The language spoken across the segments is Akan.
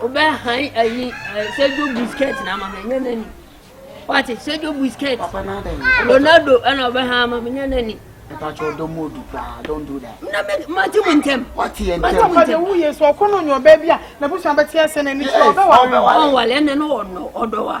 Wobɛ han ayi eh, Sergio Busquets na ama menya n'ani. Wate Sergio Busquets. Papa na dɛn? Ronaldo ɛna wobɛ han ama menya n'ani. Mpatsɔ ɔdɔ mu odu paa don do that. Na me mate mu ntɛm. Wate yɛ Mate ntɛm. mu Papa de ntɛm. wo yɛ so ɔkɔ no nyɛ ɔbaa bi a n'abusua bɛte asɛ n'ani so ɔbɛwa Ɔbɛwa. Ɔnwale ɛnɛ no ɔnɔ ɔdɔ wa.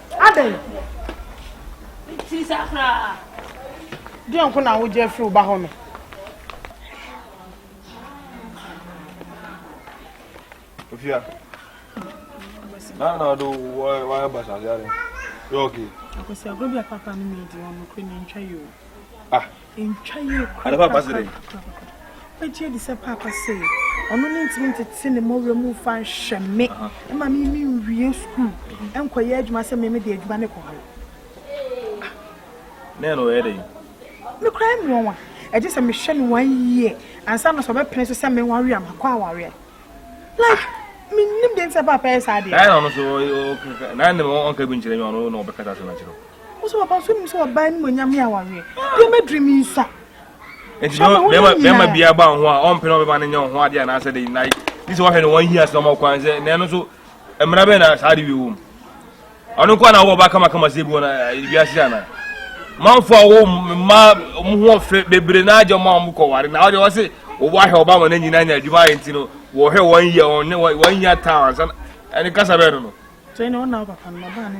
Adɛn? Ti sa koraa. Deɛ nko na wogye afiri wo ba hɔ no. Ofia. Na na do wa wa basa yare. Yogi. Akosi agro bi a papa no mi di ɔno kure na ntwa yo. Ah. Ɛntwa yie korakora. Wobɛgye adi sɛ paapa sɛ ɔno ne ntumi ntete ne mmɔwerɛ mu mfa nhwɛ me ma me me nwie sukuu nkɔyɛ adwuma sɛ me me de adwuma ne kɔ hɔ. Ne no yɛ dɛn? Me kura yɛ mmoa wa. Ɛgye sɛ mehwɛ no one year ansa na sɛ ɔbɛpene so sɛ me ware a makɔ awareɛ. Like menim deɛ nti sɛ paapa yɛ saa deɛ. Ɛyɛ na ɔno so na ne ɔnka bi nkyerɛ me ɔno na ɔbɛkata sɛ no akyerɛ. Wo sɛ papa so nim sɛ ɔbaa no mu onyam yɛ awareɛ. Deɛ mɛdiri mi nsa. Nti bɛrima bi aba wo ho a ɔmpɛ na ɔbɛma no nyɛ wo ho adeɛ anaasɛ de na ne sɛ wɔhwɛ no wɔn hia sɛ ɔma kwan sɛ na ɛno so mmara bɛn na saa de wie wom ɔno nko na wɔ ɔba kamakama sɛ bi wɔn wiase ana manfo a wɔ mma wɔn ho ɔfɛ bebree na agye ɔma wɔn kɔ ware na ɔde wɔse wɔwɔ ahwɛ ɔba wɔn nyinaa nya adwuma ayɛ nti no wɔhwɛ wɔn hia wɔn hia taa wɔn nsa ɛne kasa bɛn no no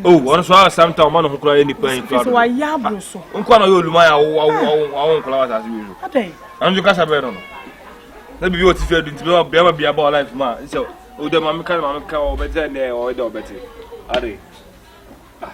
Oh, ɔno so a samta ɔma ne ho koraa yɛ nipa yi koraa dodo. Nkoa na ɔyɛ oluman a awo nkora wɔ asase wei so. Ɛno nso kasa bɛyɛ no no. Na biribi wɔ tifi adu nti bɛma bɛma bi aba wɔ life mu a nsɛ ɔde oh, maame ka ne maame ka ɔbɛte ɛnɛ ɔyɛ dɛ ɔbɛte. Ade. Ah.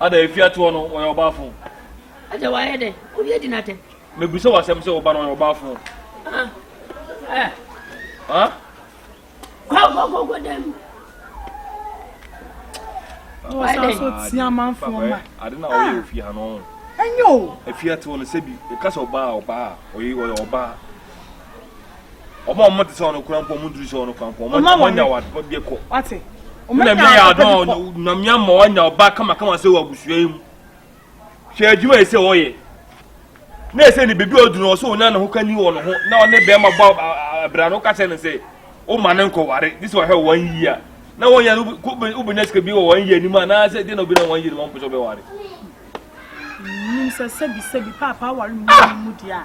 Ada efi atoɔ no ɔyɛ ɔbaafo. Ada wayɛ dɛ obi adi n'atɛ. Mebisa wɔ asɛm sɛ wo ba no ɔyɛ ɔbaafo. Ah, eh. Ah? Kɔ kɔ kɔ kɔ dɛm. Ɔsan so tia amanfoɔ ma. Ade na ɔyɛ ah. ofie ha no. Ɛnyɛ o. Efi atoɔ no sɛbi ɛka sɛ ɔbaa ɔbaa ɔyɛ ɔyɛ ɔbaa. wɔn a wɔn te sɛ wɔn kura mpo wɔn nturu sɛ wɔn kura mpo wɔn wɔn nya wɔn bɛ kɔ wate wɔn nya wɔn yɛ adɔn nyame ama wɔn nya ɔba kamakama sɛ wɔ abusua yi mu hwɛ adwuma yɛ sɛ wɔyɛ na ɛsɛ ne bebi ɔduru ɔsɛ wɔn nya ne ho ka ni wɔn ho na ɔne bɛrima bɔ abira no kasa ne sɛ wɔn ma ne nkɔware de sɛ wɔhwɛ wɔn yia na wɔn yɛ no ko bɛ nya sika bi wɔ wɔn yɛ anim a na sɛ de na obi na wɔn yɛ anim a wɔn pɛ sɛ ɔbɛ ware. nim sɛ sɛbi sɛbi paapa awari mu mu di a.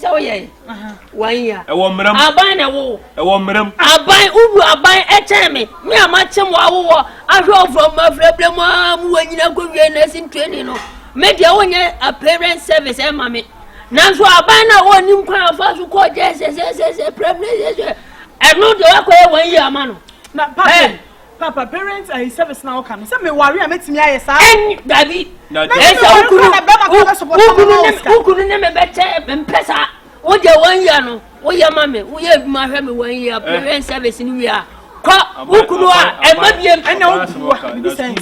sɛ woyɛ wanya ɛwɔ mmerɛm aban na ɛwo ɛwɔ mmerɛm aban wowu aban ɛkyɛn me me a makyem wɔ awowɔ ahwɛ ɔfrɔ mu afrɛbrɛ mu a mu wɔ nyina kɔwie nursing training no me deɛ wonyɛ a parent service ɛma me nanso aban no a wɔnim kwan afa so kɔɔ gyɛ sɛsɛsɛsɛ prɛmnesɛsɛ ɛno deɛ woakɔyɛ wɔn yi ama no na papa Papa, parent ayi service na ɔka no. Sɛ me ware a mɛtumi ayɛ saa. Ɛnyi dabi. Ɛsɛ wokunu wokunu ne wokunu ne me bɛkyɛ mpɛ saa. Wo deɛ wɔn yia no woyɛ ma me woyɛ adwuma hwɛ me wɔn yia parent service no wia. Kɔ wokunu a ɛma bie mpɛ. Ɛna wokunu a bibi sɛn.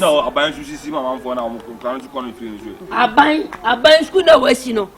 Aban sukuu na wɔasi no.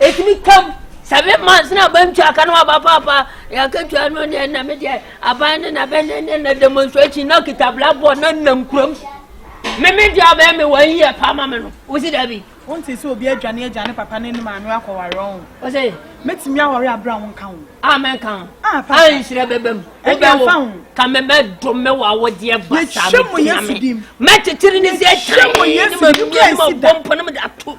ɛtumi tam seven months na aba ntwa aka no aba paapa yɛakatwa no neɛ na medeɛ aban ne na bɛne ne na demonstration na kita blackboard na nam kurom meme deɛ abɛɛ me wɔn yɛ pa ma me no wosi da bi wonte sɛ obi adwane agya ne papa ne ne maame akɔware ɔn ɔsɛ mɛtumi awɔre aberɛ a wonka ho a mɛnka ho ah, a nhyerɛ bɛbɛ mu wobɛwo ka mɛbɛdo me wɔ awodeɛ basa mɛtumi ame mɛkyekyere ne sɛ kyɛn ne mamia ne mabɔ mpo ne mede ato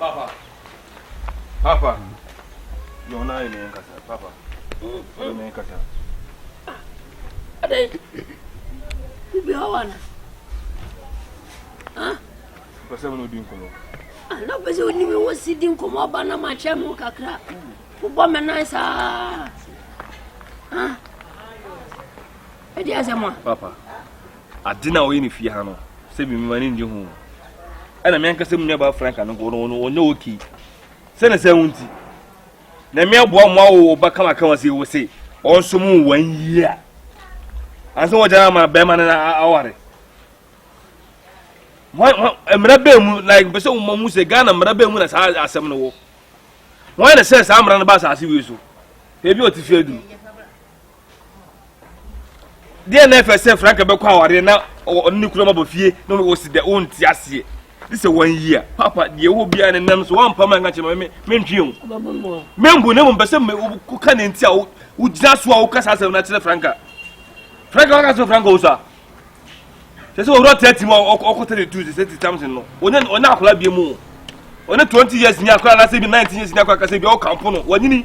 Papa. Papa. Yo na ni en casa, papa. Yo ni en casa. Ade. Ku bi hawana. Ah. Pese mo di nkomo. Ah, na pese oni mi wo si di nkomo ba na ma che mo kakra. Ku bo me nan sa. Ah. Ade asema. Papa. Adze no a ɔyɛ no fie ha no, sɛ bi mma n'enyi ho o, nna me ankasa mo nuabaa Franca no nko no ɔnnyɛ okay. Sɛ na saa wo ntsi, Nyame aboa wo ma awo wo ba kama kama sei wo se ɔnsom wo one year ansa wɔgya ama bɛrima no aware. Mmara bɛn mu, like mpɛ sɛ mo mu sɛ Ghana mmara bɛn mu na saa asɛm no wɔ? Wɔn na sɛ saa mmara no ba asase wei so, ebi ɔte fie aduru. deɛ na ɛfɛ sɛ franka bɛkɔ awareɛ na ɔne ne kura ma bɔ fie na wɔsi dɛ wonte aseɛ ne sɛ wanyi a papa deɛ wɔ biara ne nam so wampa ma nka kyerɛ me mentwe o membu na mmom pɛ sɛ woka ne nti a wogyina so a woka saa asɛm no akyerɛ franka franka waka sɛ franka wo so a sɛ sɛ ɔwura tati mu a ɔkɔ tati tu sɛ ti tamsin no ɔnyɛ ɔnyɛ akora bie mu ɔne twenty years ni akora anasɛ bi nineteen years ni akora kasɛ bi ɔkampo no wanyini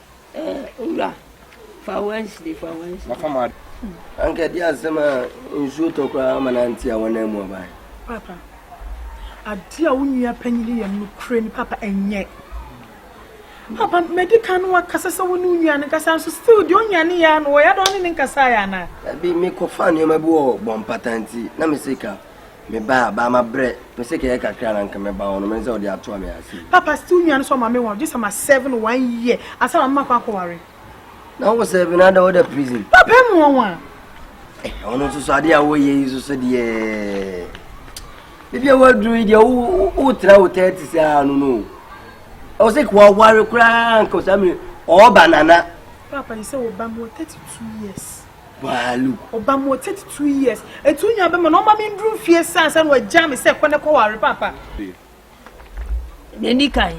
Eh, owura, fa Wednesday, fa Wednesday. Mafa ma. Anka ɛde asɛm a nsuo tɔ koraa ama no ante a wɔnan mu aba. Papa, adeɛ a wo nua panyin yɛ no kure ni papa ɛnyɛ. Papa, mɛdi kan no wakasa sɛ wo ne wo nua no nkasa nso still deɛ ɔnya ne yɛ ano wɔyɛ dɔn ne ne nkasa yɛ ana. Ɛbi mekɔfa nneɛma bi wɔ bɔmpata nti na me sika Mebaa baa mabrɛ pɛsɛ kɛyɛ kakra na nka mɛba hɔ no mensɛ wode atoa me ase yi. Papa still nua no so ɔma me wa ɔgye sɛ ma serve no one year ansa na mema kɔ akɔ ware. Na wo serve no ada woda prison. Papa ɛmu ɔwa. Eh ɔno nso so adeɛ a woyɛ yi nso so deɛ bibia waduru yi deɛ wotra wo tɛti saa no no ɛwɔ sɛ kɔ aware koraa nka saa mene ɔɔba nana. Papa yi sɛ wɔba mu wɔ 32 years. Baaloo. Ɔbaa mu wɔ thirty two years. Etu nya bɛma na ɔma me nduru mfie sɛ ansa na wagyaa me sɛ kɔ na kɔ ware paapa. Nea ɛdi kan,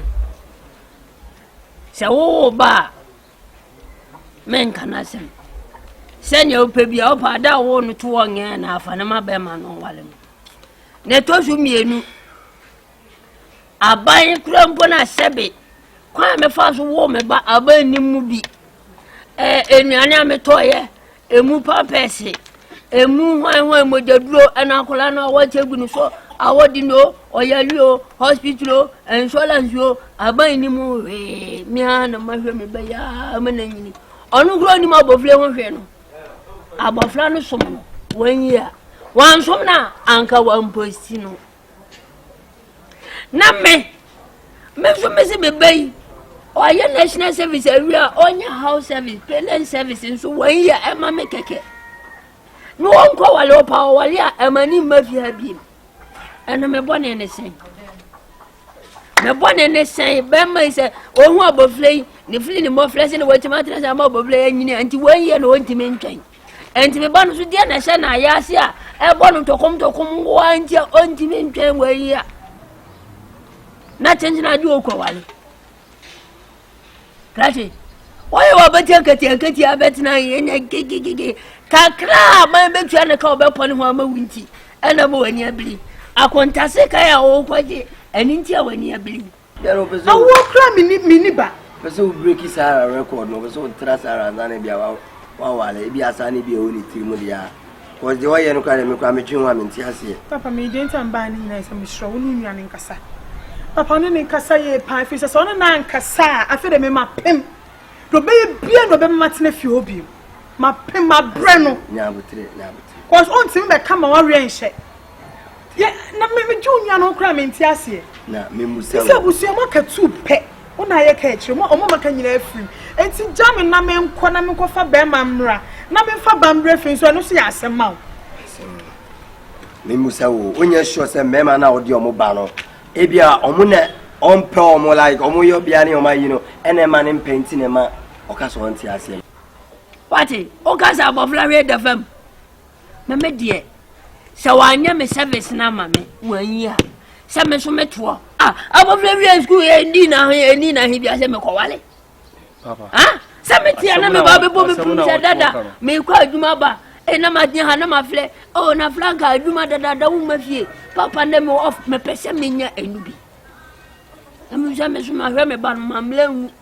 sɛ wowo ba a, menka no asɛm. Sɛnea wopɛ bi a wopɛ ada a wowo no to wɔ nyɛ na afa no ma bɛrima no ɔware no. Na ɛtɔ so mmienu, Aban kura mpo na sɛbe kwan a mefa so woo me ba aban nnim mu bi. Ɛɛ nnuane a metɔeɛ, emu pampɛɛse, emu hwanhwan mogyaduro ɛna akwadaa no a wɔkyɛ gu no so a wɔde no ɔyare o hospital o insurance o aban nnim mu hwee mea na mahwɛ me ba yi aa ma na nyini ɔno kura onim abɔfra ho hwee no abɔfra no som no wɔn yi a wɔn som no a anka wɔn mposi no. na me me nso mesi me ba yi ɔyɛ national service awie a ɔnyɛ house service parent service nso wɔn yɛ ɛma me kɛkɛ na ɔnkɔ wale ɔpa ɔwale a ɛma ne mma fi ha biem ɛno me bɔ ne ne sɛn me bɔ ne ne sɛn bɛrima yi sɛ ɔhu abɔfra yi ne fili ne mmɔfra sɛ na wɔatumi atena sɛ ama abɔfra yi anyini a nti wɔn yɛ na ɔntumi ntwɛn Enti me ba no so deɛ na ɛhyɛ no ayase a ɛbɔ no ntɔkomntɔkom nkoa nti a ɔntumi ntwɛn wɔ yi a na kyenkyen ade ɔkɔwale kati wɔyɛ wɔ bɛtia nkatiankatia bɛtena ɛnyɛ gegegege kakra a man bɛtua ne ka wɔbɛpɔ ne ho ama wo nti ɛna ma w'ani abiri akontase kae a wɔkɔgye ɛno nti a w'ani abiri Yɛrɛ o pɛ sɛ. Awoɔ kura mi ni mi ni ba. Pɛ sɛ o breki Sarah record no o pɛ sɛ o tra Sarah ansa na bi a wa wa wale ebi asa ne bi a ɛwɔ ne tiri mu de a cause deɛ ɔyɛ no kura deɛ mi kura mi twi ho a mi nti aseɛ. Papa mi deɛ nti a mi baa ne nyinaa sɛ mi srɛ wo ne onua ne nkasa papa ɔne ne nkasa yie paa efiri sɛ sɛ ɔne naa nkasa a afei de mi ma pem deɛ ɔbɛyɛ bia na ɔbɛma ma tena fie hɔ biem ma pem ma brɛ no. Nyaa abotire nyaa abotire. Cause o ntumi bɛ ka ma wa wɛ nhyɛ. yɛ na me me juu nua no koraa me nti aseɛ na me musa sɛ abusua mo aka tu pɛ wo na ayɛ ka akyire mo ɔmo maka nyinaa afiri mu nti gya me na me nkɔ na me nkɔ fa bɛrima mmra na me nfa ba mmra fi nso ɛno so yɛ asɛm ma wo me musa wo wonyɛ sure sɛ mmarima no a wɔde ɔmo ba no ebia ɔmo na ɔmpɛ ɔmo like ɔmo yɛ ɔbea ne ɔmo ayi no ɛna ɛma ne mpɛ nti na ɛma ɔka sɛ ɔnte aseɛ wate wokasa abɔfra hwɛ da fam na me deɛ sɛ wanyɛ me service no ama me wanyi a sɛ me nso metoɔ ah, abɔfra wia sukuu ɛdi na he ɛdi na he bia sɛ mekɔwale ah, sɛ meteɛ na meba bɛbɔ me pum sɛ dada mekɔ adwuma ba e na magyina ha na mafrɛ o oh, na franka adwuma dadada woma fie papa ndɛ me off mepɛ sɛ menya ɛnu bi ɛmu sɛ me so mahwɛ me ba no mammerɛ nwu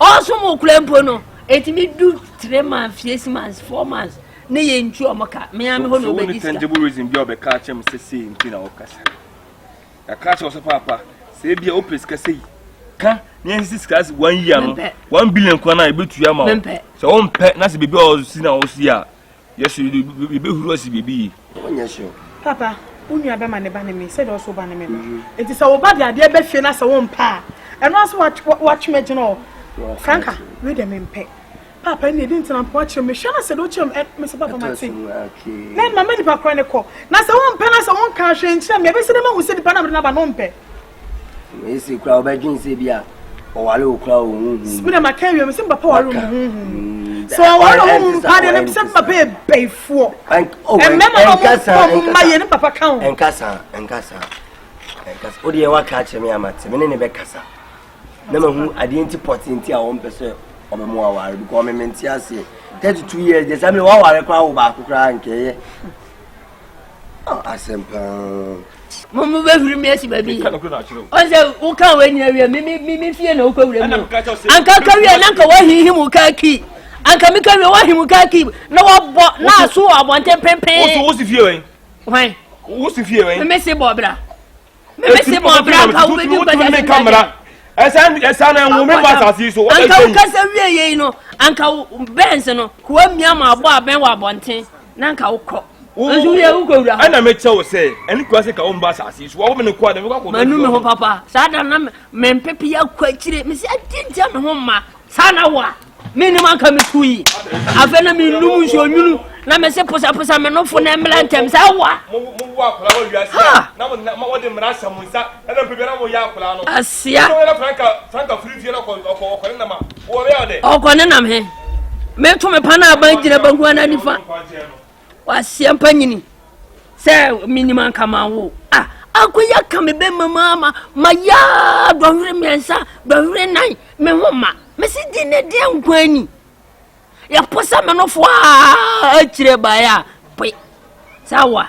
Ɔɔsom wo koraa mpo no, ɛtumi du three months, fies months, four months ne yɛ ntu ɔmo ka. Me ara me hɔ na ɔbɛdi sika. tangible reason bi a ɔbɛka akyerɛ me sɛ sei nti na ɔkasa. Yɛaka akyerɛ wo sɛ paapa, sɛ ebi a wopɛ sika sɛ yi, ka na yɛnsisi sika ase one year no, one billion kwan a yɛbɛtua ma wo. Sɛ wompɛ na sɛ biribi a ɔsi na ɔsi a, Yesu de yɛbɛhuru asi biribi yi. Ɔnyɛ hyew. Papa, wo nua bɛma ne ba ne me sɛdeɛ ɔso wo ba ne me ba. Nti sɛ wo ba de adeɛ ba fie na sɛ wompɛ a, ɛno ara sɛ woatwe me gyina hɔ. Franka, wei deɛ mempɛ. Papa, ɛnneɛ ɛdeɛ nti na wompɛ woakyerɛ me? Hwɛ na sɛ deɛ wokyerɛ me, me se papa mate. Na mama nipa korɔ no kɔ. Na sɛ wompɛ na sɛ wonka hwee nkyerɛ me a, ɛbɛsi dɛ mahu sɛ nipa no a mede no aba no wompɛ. Ese kura ɔbɛdwen sɛ bi a ɔware wo kura wo huhu. Sibi na maka awie mi sɛ papa ware wo huhu. Mm, sɛ ɔware wo huhu pa de ne sɛ papa yɛ bɛyifoɔ. Oh, Ɛmɛma na ɔmo pɔ mo mma yɛ ne papa ka ho. Nkasa nkasa nkasa o deɛ waka akyerɛ mi ama te mi ne ne bɛ kasa na ma hu adeɛ nti pɔte nti a wɔn pɛ sɛ ɔbɛ mu aware bi kɔ ɔmɛ mɛ nti aseɛ thirty two years de sɛ mi waware kora wo baako kora nkɛyɛ. Oh, asɛm paa. Mo mo bɛ huri mi esi baabi. Ɔsɛ woka wɔ nyina wie mi mi mi fie na wokɔ wura mu. Anka ka wie na nka wahihi mu ka ki. Anka mi ka wie wahihi mu ka ki na wabɔ na aso wɔ abɔnten pempen. Wosi wosi fie wɛn. Wɛn. Wosi fie wɛn. Mi si bɔ bra. mebɛsi ma ɔbra nka wobɛdi nkɔda ne nkammara ɛsa na ɛnwo me ma asase yi so anka wokasa wie yei no anka bɛns no koa mia ma abɔ abɛn wɔ abɔnten na anka wokɔ nso yɛ wokɔ wura hɔ ɛna mekyɛ wo sɛ ɛne koa sɛ ka wo mba asase yi so wɔwo me ne koa dɛ mekɔ akɔ manu me ho papa saa da na mempepe akɔ akyire mesɛ adi ntia me ho mma saa na wo a menim anka metu yi afei na menom nsuo nwunu na mese posaposa me nofo na mmra ntɛm sɛ awa asia ɔkɔne nam he meto me pa no aban gyina banku ana nifa Waseɛ mpa nyini sɛ menim anka ma wo a akɔyi aka me bɛma mu ama mayaa dɔhwere mmiɛnsa dɔhwere nan me ho ma mese di ne deɛ nkwa ani yɛpo sɛ menofoɔ a akyire baeɛ a poe sɛ awa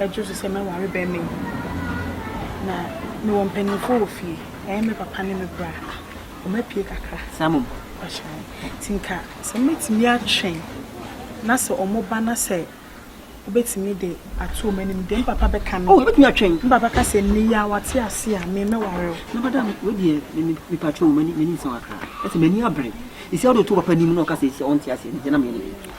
Ɛgye so sɛ mɛware barima yi. Na mewɔ mpanimfoɔ wɔ fie. Ɛyɛ me papa ne me bra. Wɔapue kakra. Saa mmom. Ɔkyena yi. Nti nka sɛ mɛtumi atwɛn na sɛ wɔba na sɛ wobɛtumi de ato wɔn anim deɛ me papa bɛka no. Oh, yɛbɛtumi atwɛn. Me papa ka sɛ nnɛ yi a wate ase a me mɛware wo. Na bada wei deɛ me me me patro m'ani m'ani nsɛn kakra. Ɛsɛ m'ani abere. Esi a wode to papa anim na ɔka sɛ esi a ɔnte aseɛ no deɛ na meyɛ ne dɛ.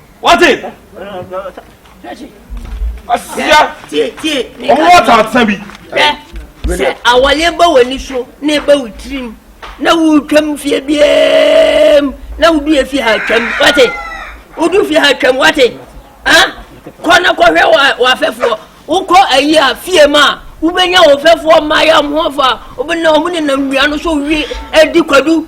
wate asia ɔmo wɔ taata bi. sɛ awale ba w'ani so na eba wo tirim na wotwam fie biam na wodu efi ha twam wate wodu fi ha twam wate ha kɔ na kɔhwɛ w'afɛfoɔ wokɔ ayi a fie mu a wobɛnya wɔfɛfoɔ mmaayɛ ɔmo ho fa wobɛna ɔmo nenam nnua no so wie adi kwadu